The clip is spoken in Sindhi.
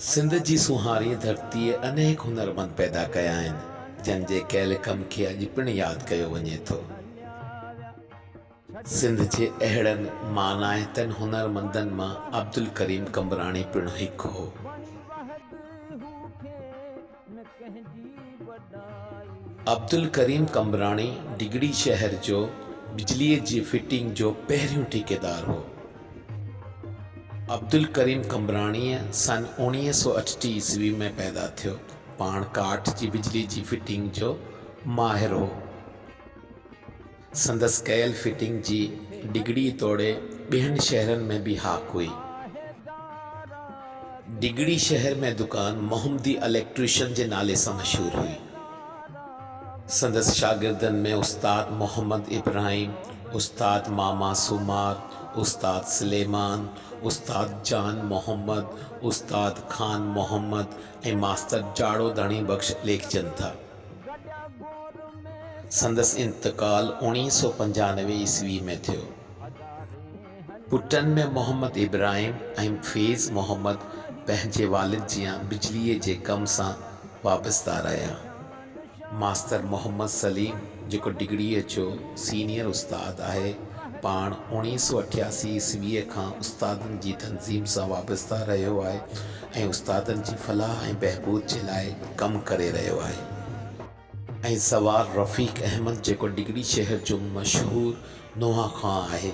سنڌ جي سونهاري ڌرتيء انيڪ هنرمند پيدا ڪيا آهن، جن جي ڪيل ڪم کي اڄ پڻ ياد ڪيو وڃي ٿو. سنڌ جي اهڙن مانائتن هنرمندن مان عبدالڪريم قمبراڻي پڻ هڪ هو. عبدالڪريم قمبراڻي ڊگهڙي شهر جو بجليء جي فٽنگ جو پهريون ٺيڪيدار هو. عبدالڪريم قمبراڻيء سن اوڻيهه سؤ اٺٽيهه عيسوي ۾ پيدا ٿيو. پاڻ ڪاٺ جي بجليء جي فٽنگ جو ماهر هو. سندس ڪيل فٽنگ جي ڊگهڙي توڙي ٻين شهرن ۾ به هاڪ هئي. ڊگهڙي شهر ۾ دڪان محمدي اليڪٽريشن جي نالي سان مشهور هئي. سندس شاگردن ۾ استاد محمد ابراهيم، استاد ماما سومار، استاد سليمان، استاد جان محمد، استاد خان محمد ۽ ماستر جاڙو ڌڻي بخش ليکجن ٿا. سندس انتقال اوڻيهه سؤ پنجانوي عيسوي ۾ ٿيو. پٽن ۾ محمد ابراهيم ۽ فيض محمد پنهنجي والد جيان بجليء جي ڪم سان وابسته رهيا. ماستر محمد سليم جيڪو ڊگهڙيء جو سينيئر استاد آهي، پاڻ اوڻيهه سؤ اٺياسي عيسويء کان استادن جي تنظيم سان وابسته رهيو آهي. ۽ استادن جي فلاح ۽ بهبود جي لاء ڪم ڪري رهيو آهي ۽ سوار رفيق احمد جيڪو ڊگهڙي شهر جو مشهور نوحه خوان آهي.